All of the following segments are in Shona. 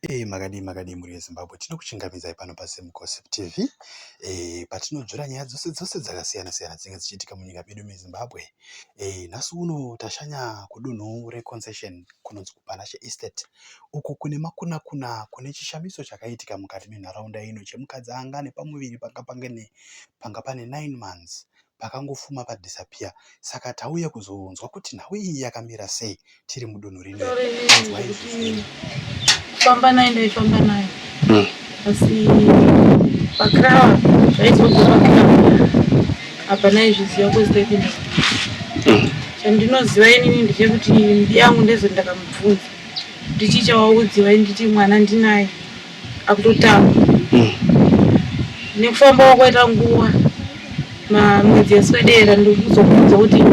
Eeh makadii makadii mhuri yeZimbabwe tinokuchingamidzai pano paZim Gossip TV eeh patinodzvira nyaya dzose dzose dzakasiyana siyana dzinenge dzichiitika munyika medu meZimbabwe eeh nhasi uno tashanya kudunhu reConcession kunonzi kuPanashe Estate uko kune makuna kuna kune chishamiso chakaitika mukati menharaunda ino chemukadzi anga ane pamuviri panga pane nine months pakangofuma pa disappear saka tauya kuzonzwa kuti nhau iyi yakamira sei tiri mudunhu rino iri. Famba naye ndaifamba naye hmm. asi pakrawa zvaizobva pakrawa apa naizviziva kwezitaipinda hmm. chandinoziva inini ndechekuti mbi yangu ndezoti ndakamubvunza ndichichawaudziwa nditi mwana ndinaye akutotaura mm. nekufamba kwakaita nguva mamwedzi yaswedera ndikuzokudza kuti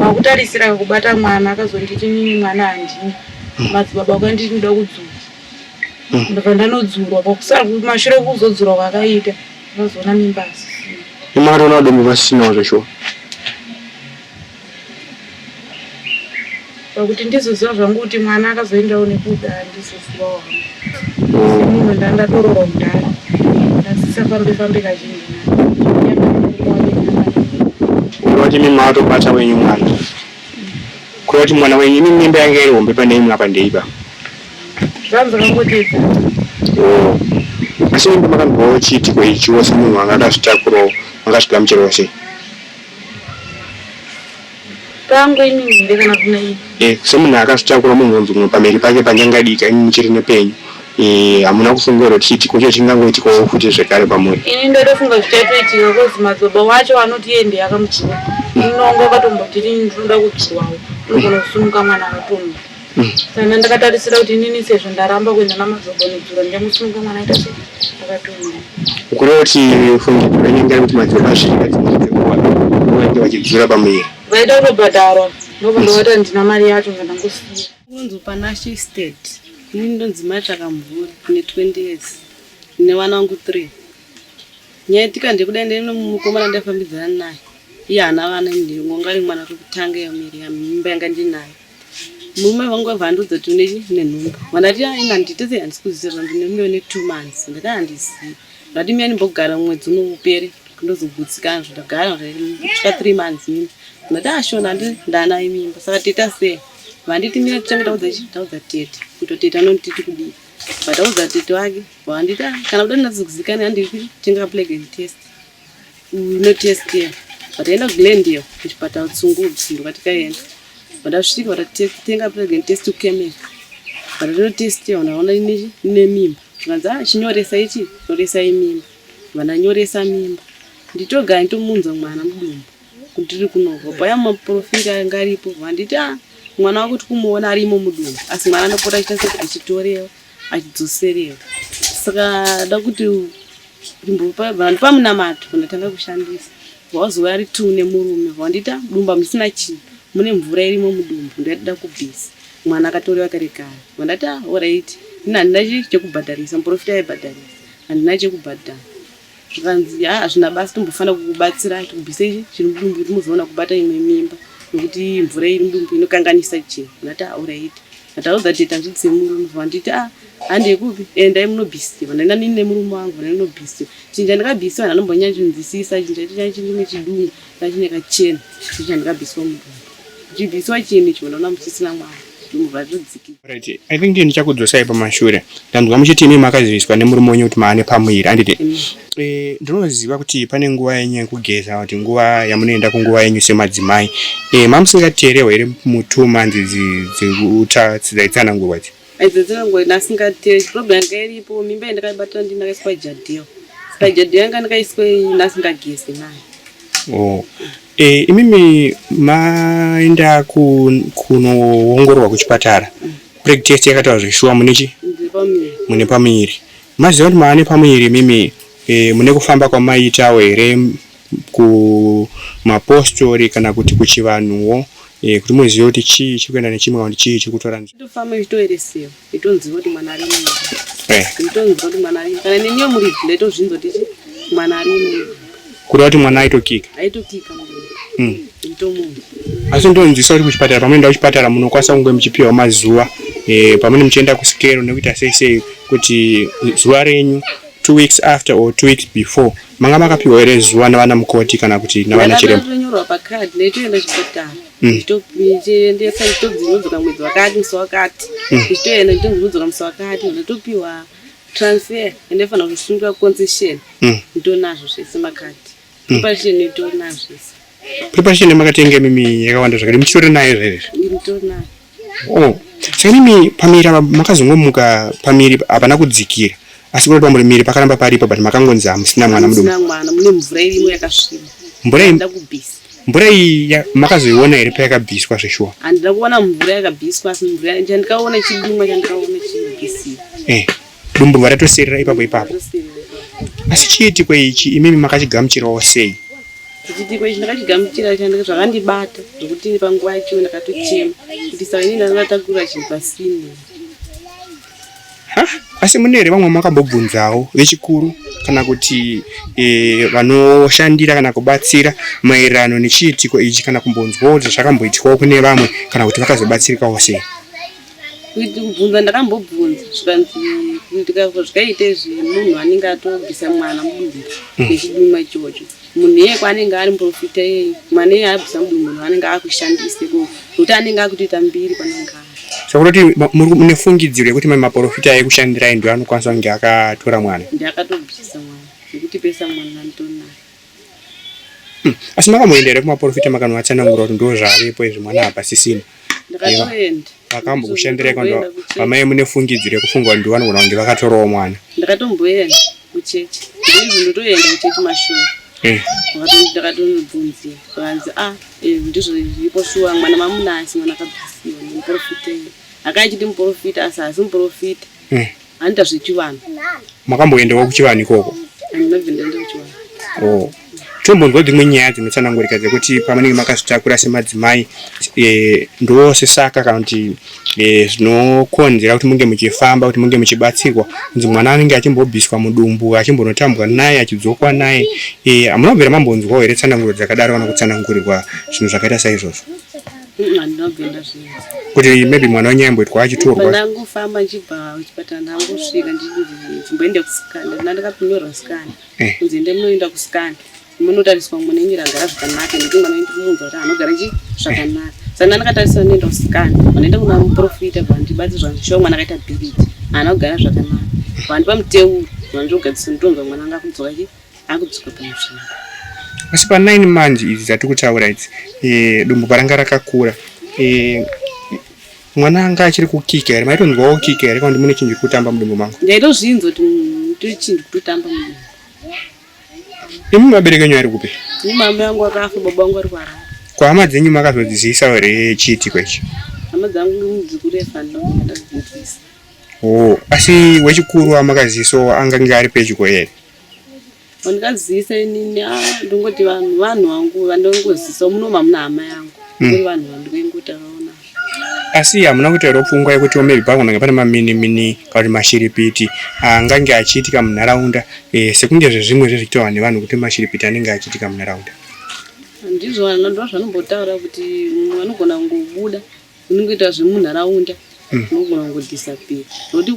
wakutarisira kubata mwana akazonditi nini mwana handini mm. madzibaba kwanditi ndoda kudzura mm. ndobva ndanodzurwa pakusara mashure kuzodzurwa kwakaita unozoona mimba asisina imari unoda mimba asisinawo zveshuwa pakuti ndizoziva zvangu kuti mwana akazoendawo nekuda handizozivawo hangu semunhu nda ndatorowa kudhara ndasisafambe fambe kazhinji kureva kuti mimi matobata wenyu mwana kureva kuti mwana wenyu imi mimba yange iri hombe pane imwe apa ndeipa zvanzi kangoteedza oh. asi mimba makandivawo chiitiko ichiwo semunhu anga akazvitakurawo makazvigamuchirawo sei pangu ini here kana kuna ini eh, semunhu akatakura munhu unonzi umwe pamheri pake panyangadika ini muchiri nepenyu eh, hamuna kufungira kuti chiitiko cho chingangoitikawo futi zvekare pamuri ini ndotofunga zvichatoitika kozi madzoba wacho anoti iye ndiye akamuchiwa inonga akatombotiri ndinoda kuchiwawo unogona kusumuka mwana akatomwa Kana ndakatarisira kuti inini sezvo ndaramba kuenda namadzogo nedzuro ndemusunge mwana aita sei akatumwa. Ukureva kuti fungi ndakanyengera kuti madzogo asvika vanenge vachidzura pamuviri. Vaida kutobhadharwa ndobva ndovata ndina mari yacho ngandangosiya. Kunonzi Panashe Estate. Ini ndonzi mai Tsvakamvura ne 20 years ne vana vangu 3. Nyaitika ndekuda ndiri nomukomana ndaifambidzana naye. Iye haana vana ndiri ngongari mwana wekutanga yemiri yamimba yanga ndinayo. murume vangu vabva andiudza kuti une nenhumbu vandati aina nditese handisi kuzizira ndine mume une two months ndati handizivi ndati miyani mbogara mwedzi uno upere ndozogutsikana zvandagara ndika three months mimi ndati ashona ah, andi ndanayi mimba saka teta sei vanditi mira titange taudza chi taudza tete kuto tete anonditi tikudii vataudza tete wake vanditi ah, kana kuda ndinazokuzikana handiri kutenga plegen test unotestia vataenda kugland iyo kuchipatara tsungudzi ndokatikaenda vatasvika vatatenga pregnant test ukemea vatatotestia vanaona ine mimba zvikanzi a ah, chinyoresa ichi nyoresai mimba vananyoresa mimba nditoga nditomunza mwana mudumbu kutiri kunoko paya maprofita anga aripo vanditi a ah, mwana wakuti kumuona arimo mudumbu asi mwana anopota achita sekuti achitorewa achidzoserewa saka da kuti vanhu pamunamato kundatanga kushandisa wazowa ari two nemurume wandita dumba musina chii mune mvura irimo mudumbu ndaida kubvisa mwana akatorewa kare kare wandati ah, orit ini handina chekubhadharisa muprofita aibhadharisa handina chekubhadhara zvikanzi haa hazvina basi tombofanira kukubatsira tibvisei chiri mudumbu kuti muzoona kubata imwe mimba nokuti mvura iri mudumbu inokanganisa chinhu ndati auraiti ndataudza tete handidzi murume vanditi a ah, handei kupi endai eh, munobhisiwa ndaina nini nemurume wangu ndainobhisiwa chinja ndakabhisiwa ndanombonyanya chinzwisisa chinja chinyanya chindine chidungu Ndachine kachena chii chandikabviswa mudumbu. Ndichibviswa chii ndicho ndaona muchisina mwana. Ndumurwa zvodziki. Right. I think ndichakudzosai pamashure. Ndanzwa muchiti imi makaziviswa nemurume wenyu kuti maane pamuviri anditi. Mm. Eh, ndinoziva kuti pane nguva yenyu yekugeza kuti nguva yamunoenda kunguva yenyu semadzimai. Eh, mamusingateerewo here mutuma nzizi dzekuta dzidzaitsanangurwa idzi. Idzo dzinongoenda asingatei problem yanga iripo mimba yandakaibatira ndini ndakaiswa jadhiyo saka jadhiyo yanga ndakaiswa ndasingagezi nayo oh. E, imimi maenda kunoongororwa kuchipatara mm. preg test yakataura zveshuwa mune chi mune pamuviri maziva kuti maane pamuviri imimi e, mune kufamba kwamaitawo here kumapostori kana kuti kuchivanhuwo eh, kuti muzive kuti chii chiri kuenda nechimwe kana kuti chii chiri kutora ndofamba ichitoeresewa itonziva kuti mwana ari mumba eh. itonziva kuti mwana ari kana neniyo muri bhla itozvinza kuti chi mwana ari mumba kureva kuti mwana aitokika aitokika hmm. itomunhu asi ndonzwisa kuti kuchipatara pamunoenda kuchipatara munokwanisa kunge muchipiwa mazuva eh, pamune muchienda kusikero nekuita sei sei kuti zuva renyu Two weeks after or two weeks before manga makapiwa here zuva navana mukoti kana kuti navana chiremba? Ndakatonyora pacard ndaitoenda chipatara mm. ndichiendesa ndichitobvunzwa mwedzi wakati musi wakati mm. ndichitoenda ndichitobvunzwa musi wakati ndatopiwa transfer ende fanira kusungira concession mm. nditonazvo zvese makati preparation nditonazvo zvese preparation yamakatenge mimi yakawanda zvakati muchitori nayo zvese nditonazvo Oh, saka imi pamiri apa makazongomuka pamiri hapana kudzikira asi kuti pamuri miri pakaramba paripo but makangonzi hamusina mwana muduku. Hamusina mwana mune mvura irimo yakasviba. Mvura iyi ndakubisa. Mvura iyi makazoiona here payakabviswa zveshuwa? Handina kuona mvura yakabviswa asi mvura chandikaona chidimwa chandikaona chibisira. Eh. Dumburwa ratosirira ipapo ipapo. Asi chiitiko ichi imimi makachigamuchirawo sei? Chiitiko ichi ndakachigamuchira chanda zvakandibata zvokuti panguva yacho ndakatochema kuti saka ini ndanga ndatakura chinhu pasini. Asi mune here vamwe makambobvunzawo vechikuru kana kuti e, vanoshandira kana kubatsira maererano nechiitiko ichi kana kumbonzwawo kuti zvakamboitwawo kune vamwe kana kuti vakazobatsirikawo sei? kubvunza ndakambobvunza zvikanzi ndikazvikaite zvemunhu anenge atobvisa mwana mudumbu mm. nechiduma ichocho munhu iyeye kwaanenge ari muprofita iyeye mwana iyeye abvisa mudumbu munhu anenge akushandise ko nokuti anenge akutoita mbiri kwanenge ari sakutoti mune fungidziro yekuti mai maprofita ekushandirai ndo anokwanisa kunge akatora mwana ndi akatobvisa mwana nekuti pesa mwana nditonaye Hmm. Asi makamboenda here kumaporofita makanovatsanangura kuti ndo zvavepo izvi mwana hapasisina? Ndakatoenda. Vakambokushandirai kana vamai mune fungidziro yekufunga kuti ndivanogona kunge vakatorawo mwana? Ndakatomboenda kuchechi. Ndizvo ndotoenda kuchechi mashuwa. Hmm. Ndakatonobvunzira vanzi ah eh, ndizvo zvipo shuwa mwana mamunasi mwana akabvisiwa muporofita. Akaichiti muporofita asi asi muporofita. Hmm. Anoita zvechivanhu. Makamboendawo kuchivanhu ikoko? Handinobve ndaenda kuchivanhu. Oh. Tombonzwa dzimwe nyaya dzinotsanangurika dzekuti pamunenge makazvitakura semadzimai e, ndosesaka kana kuti e, zvinokonzera kuti munge muchifamba kuti munge muchibatsirwa kunzi mwana anenge achimbobviswa mudumbu achimbonotambwa naye achidzokwa naye e, hamuna e, kubvira mambonzwawo here tsananguro dzakadaro kana kutsanangurirwa zvinhu zvakaita saizvozvo? kuti maybe mwana wenyu aimboitwa achitorwa ndangofamba ndichibva kuchipatara ndangosvika ndimboenda kusikana kana ndakakunyorwa sikana eh. kunzi ende munoenda kusikana munotariswa mune nyira gara zvakanaka nekuti mwana wenyu munhu wati anogara chi zvakanaka saka ndakatariswa ndoenda kusikana vanoenda kuna muprofita vandibatsi zvanzvishoa mwana akaita bhiriti anogara zvakanaka vandipa muteuro vanzvogadzisa mutonga mwana anga kudzoka chi akudzoka pamusoro asi pa 9 manje idzi dzatiri kutaura idzi eh, dumbu paranga rakakura eh, mwana anga achiri kukika here maitonzwawo kika here kana kuti mune chinhu chiri kutamba mudumbu mangu ndaitozvinzwa kuti tiri chinhu chiri kutotamba mudumbu imi mabereki enyu ari kupi ini mama yangu akafa baba wangu ari kuharara kwahama dzenyu makazodziziisa here chiitiko ichi hama dzangu dzikurefandaadzadzidzisa o oh, asi wechikuru amakaziisawo angange ari pedyo here Wandikazivisa inini ah, ndongoti vanhu vanhu vangu vandongozivisa muno mamuna hama yangu mm. uri vanhu vandingotaurawo navo asi hamuna kutoera pfungwa yekuti maybe pakunanga pane maminimini kana kuti mashiripiti angange achiitika munharaunda eh, sekunge zvezvimwe zvezvichitaurwa nevanhu kuti mashiripiti anenge achiitika munharaunda ndizvo ndozvanombotaura kuti vanogona kungobuda unongoita zvemunharaunda mm. unogona kungodisappear nokuti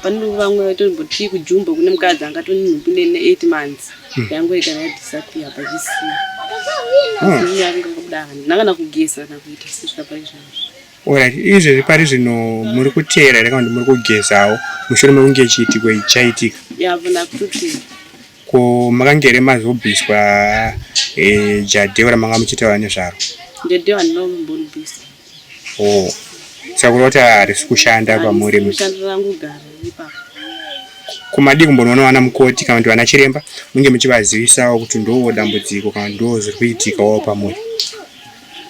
pane vamwe vaitomboti kujumba kune mukadzi anga tone nhumbi ne eight months mm. yangoita yadisappear pachisiya ndanga mm. kana kugeza kana kuita sezvika paizvazvo orit izvezvi pari zvino muri kuteera here kana kuti muri kugezawo mushure mekunge chiitiko ichi chaitika yavona kuti Ko makange here mazobviswa eh, jadhewa ramanga muchitaura nezvaro? Jadhewa ndino mbondibvisa. Oh. Saka kureva kuti harisi kushanda pamuri? Kushanda rangu gara ipapo. Kumadii kumbonoona vana mukoti kana kuti vana chiremba munge muchivazivisawo kuti ndoo dambudziko kana ndoo zviri kuitikawo pamuri?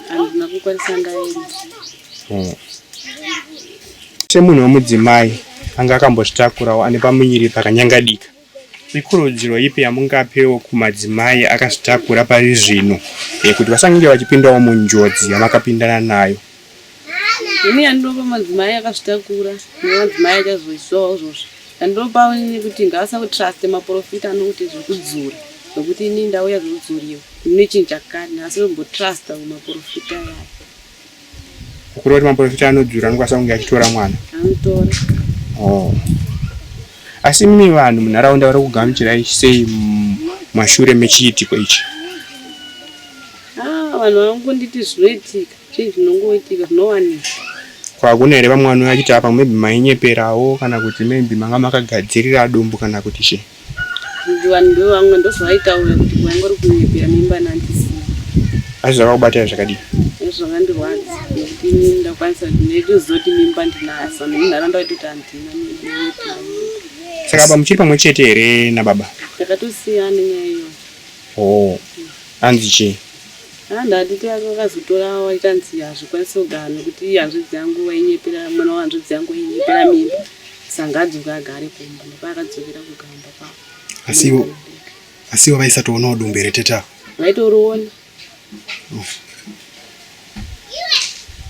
Handina kukwanisa ndaenda. Oh. Semunhu wemudzimai anga akambozvitakurawo ane pamuviri pakanyangadika. Ikurudziro ipi yamungapewo kumadzimai akazvitakura pari zvino kuti vasange vachipindawo munjodzi yamakapindana nayo? Ini yandinopa madzimai akazvitakura nemadzimai achazoiswawo izvozvo yandinopawo ini kuti ngaasakutruste maprofita anokuti zvekudzura nokuti ini ndauya zvekudzuriwa ndine chinhu chakati asi ndombotrusta kumaprofita yaya Ukuroti maporofita anodzura anokwanisa kunge achitora mwana. Anotora. Oh. Asi mimi vanhu munharaunda vari kugamuchirai sei mashure mechiitiko ichi? Ah, vanhu vanongonditi zvinoitika, zvinhu zvinongoitika zvinowanika. Kwakuna here vamwe vanouya vachiti apa maybe mainyeperawo kana kuti maybe manga makagadzirira dumbu kana kuti chii? vanhu ndovamwe ndozvavaitaura kuti kwanga uri kunyepera mimba nandisina asi zvakakubatira zvakadii zvakandirwadza nekuti ini ndakwanisa kuti ndaichizoti mimba ndinayo saka nemunharaunda vaitoti handina saka apa muchiri pamwe chete here nababa takatosiyana nyaya iyo o oh, anzi chii haa ah, ndati takazotora waita nzi hazvikwanisi kugara nekuti hanzvadzi yangu wainyepera mwana wahanzvadzi yangu wainyepera mimba sanga adzoka agare kumba ndopaakadzokera kugamba kwavo asi ivo asi ivo vaisatoonawo dumbu here tete avo vaitoroona oh.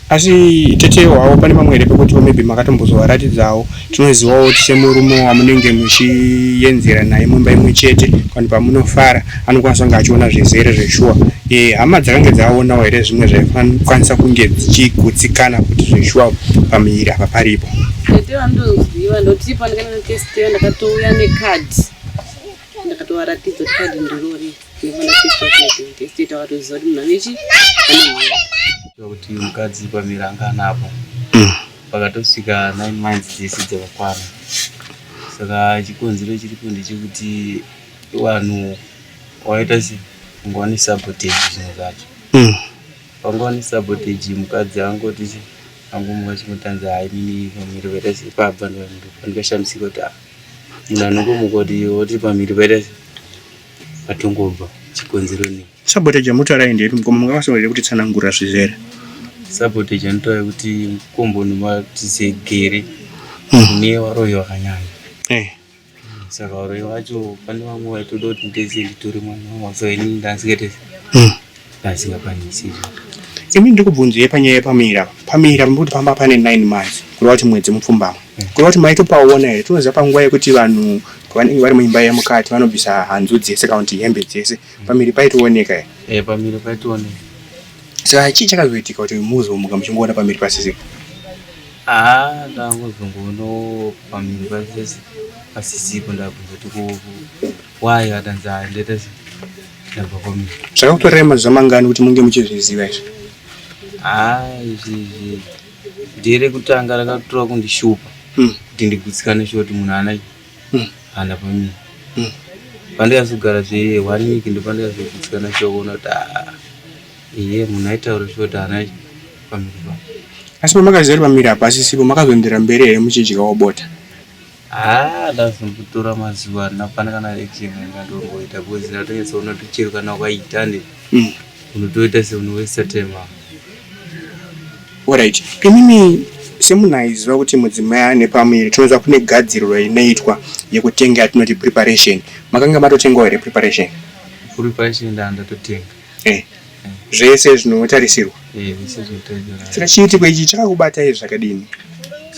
asi tete hwavo pane mamwe here pekuti maybe makatombozovaratidzawo tinozivawo kuti semurume wamunenge muchiyenzera naye mumba imwe chete vanhu pamunofara anokwanisa kunge achiona zvizere zveshuwa eh, hama dzakange dzaonawo here zvimwe zvaikwanisa kunge dzichigutsikana kuti zveshuwa pamuviri apa paripo tete vandoziva ndoti pandikaenda nekesiteyo ndakatouya nekadhi ndakatovaratidza kuti kadhi ndirori nekesiteyo takatoziva kuti munhu anechi kuti mukadzi pamiri anga anapo mm. pakatosvika nine months dzese dzakakwana saka chikonzero chiripo ndechekuti Vanhu wakaita se kunge wani sabotage zvinhu zvacho. Mm. Wanga wani sabotage mukadzi angoti se angomwa chimotanza hai mini pamiri wakaita se pabva ndikashamisika kuti ah. Munhu anongomuka kuti woti pamiri wakaita se patongobva chikonzero nei. Sabotage yamutaura iyi ndeyekuti mukoma mungavasonere kuti tsanangura zvizere. Sabotage anotaura kuti mukombo unomatizegere. Mm. Newaroyo wakanyanya. Eh. saka varoyi vacho pane vamwe vaitoda kuti ndese nditori mwana wavo so ini ndasingete hmm. ndasingakwanisi imi ndiri kubvunzei panyaya yepamira pamira pambuti pamba pane nine months kureva kuti mwedzi mupfumbamwe hmm. kureva kuti maitopaona here tinoziva panguva yekuti vanhu vanenge vari muimba yemukati vanobvisa hanzu dzese kana kuti hembe dzese hmm. pamiri paitooneka here eh, pamiri paitooneka saka chii chakazoitika kuti muzomuka muchingoona pamiri pasisika Haa ndangozongoona pamhiri pasese pasisipo ndakuzoti ko why akanzi haa ndaita se ndabva kwamiri zvakakutorera mazuva mangani kuti munge muchizviziva izvi haa izvi izvi ndere kutanga rakatora kundishupa Hmm. kuti ndigutsikane sho kuti munhu ana Hmm. hana pamiri Hmm. pandikazogara zve one week ndopandikazogutsikana sho kuona kuti haa Iye munhu aitaura zvekuti haana pamiri pavo. Asi pamakaziva kuti pamiri apa asisipo makazoenderera mberi here muchidyawo bota? Haa ndazombotora mazuva ana hapana kana action yandatomboita because ndatonyatsona kuti chero kana ukaita ne Mm. unotoita seunowesta time apo. Alright. Imimi semunhu aiziva kuti mudzimai ane pamuviri tinoziva kune gadziriro inoitwa yekutenga yatinoti preparation. Makanga matotengawo here preparation? Kuri pashi ndaa ndatotenga. eh, zvese zvinotarisirwa eh, saka chiitiko ichi chakakubata izvi zvakadini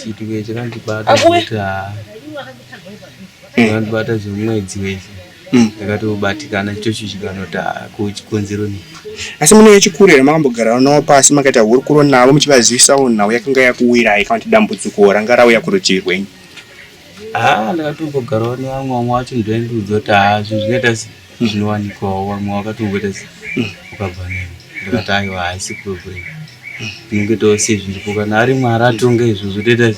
chiitiko ichi chakandibata zvekuti haa eh. chakandibata zvemwedzi wese hmm. ndakatobatikana chocho chikanoti haa kuchikonzero nei asi mune yechikurira makambogara navo pasi makaita hurukuro navo muchivazivisawo nhau yakanga yakuwirai kana kuti dambudziko ranga rauya kurutivi rwenyu haa ah, ndakatombogarawo nevamwe vamwe wacho ndoendiudza kuti haa zvinhu zvinoita sei zvinowanikwawo vamwe wakatongoita se ukabva neni ndikati aiwa haisi problem tinongoitawo sezviripo kana ari mwari atonga izvo zvotoita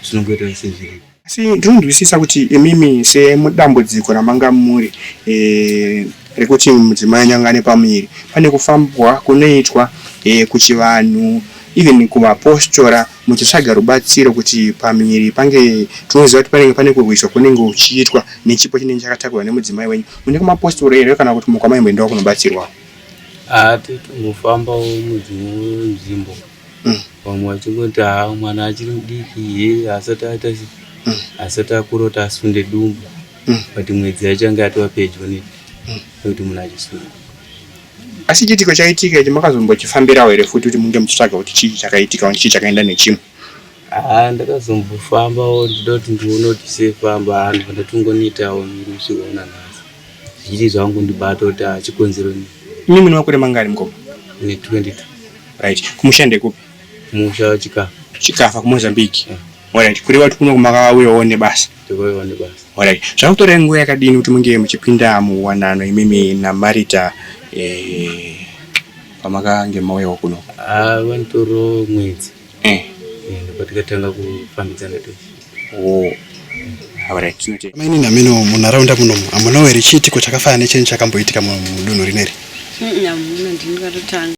zvinongoitawo sezviripo asi ndinonzwisisa kuti imimi semudambudziko ramanga muri e, rekuti mudzimai anyangane pamuviri pane kufambwa kunoitwa e, kuchivanhu even kuvapostora muchitsvaga rubatsiro kuti pamiri pange tinoziva kuti panenge pane kurwiswa kunenge kuchiitwa nechipo chinenge chakatakurwa nemudzimai wenyu mune kumapostori here kana kuti mukwa maimboendawo kunobatsirwa hati tingofambawo mudzimwe nzvimbo mm. vamwe vachingoti ha mwana achiri mudiki ye asati aita mm. asati akura kuti asunde dumbu mm. but mwedzi yachange atova pedyo ne nekuti munhu achisunga Asi chiitiko chaitika ichi makazombochifambirawo here futi kuti munge muchitsvaga kuti chii chakaitika chii chakaenda nechimwe? Haa ndakazombofambawo ndichida kuti ndione kuti sei famba haa ndobva ndatongoniitawo miri kusvika una nhasi zvichiti zvangu ndibata kuti haa chikonzero nei. Imi mune makore mangani mukoma? Ndine 22. Right. Kumusha ndekupi? Kumusha Chikafa. Chikafa kuMozambique. Yeah. Alright. Kureva kuti kuno makauyawo nebasa? Alright, zvakakutora nguva yakadini kuti munge muchipinda muwanano imimi naMarita eh, pamakange mauyawo kuno? Ah, vanotoro mwedzi Eh, Eh, patikatanga kufambidzana tu oh. Alright, tinotenda. Maini nameno munharaunda munomu hamunawo here chiitiko chakafanana necheni chakamboitika mu- mudunhu rineri Mm, hamuna ndini katotanga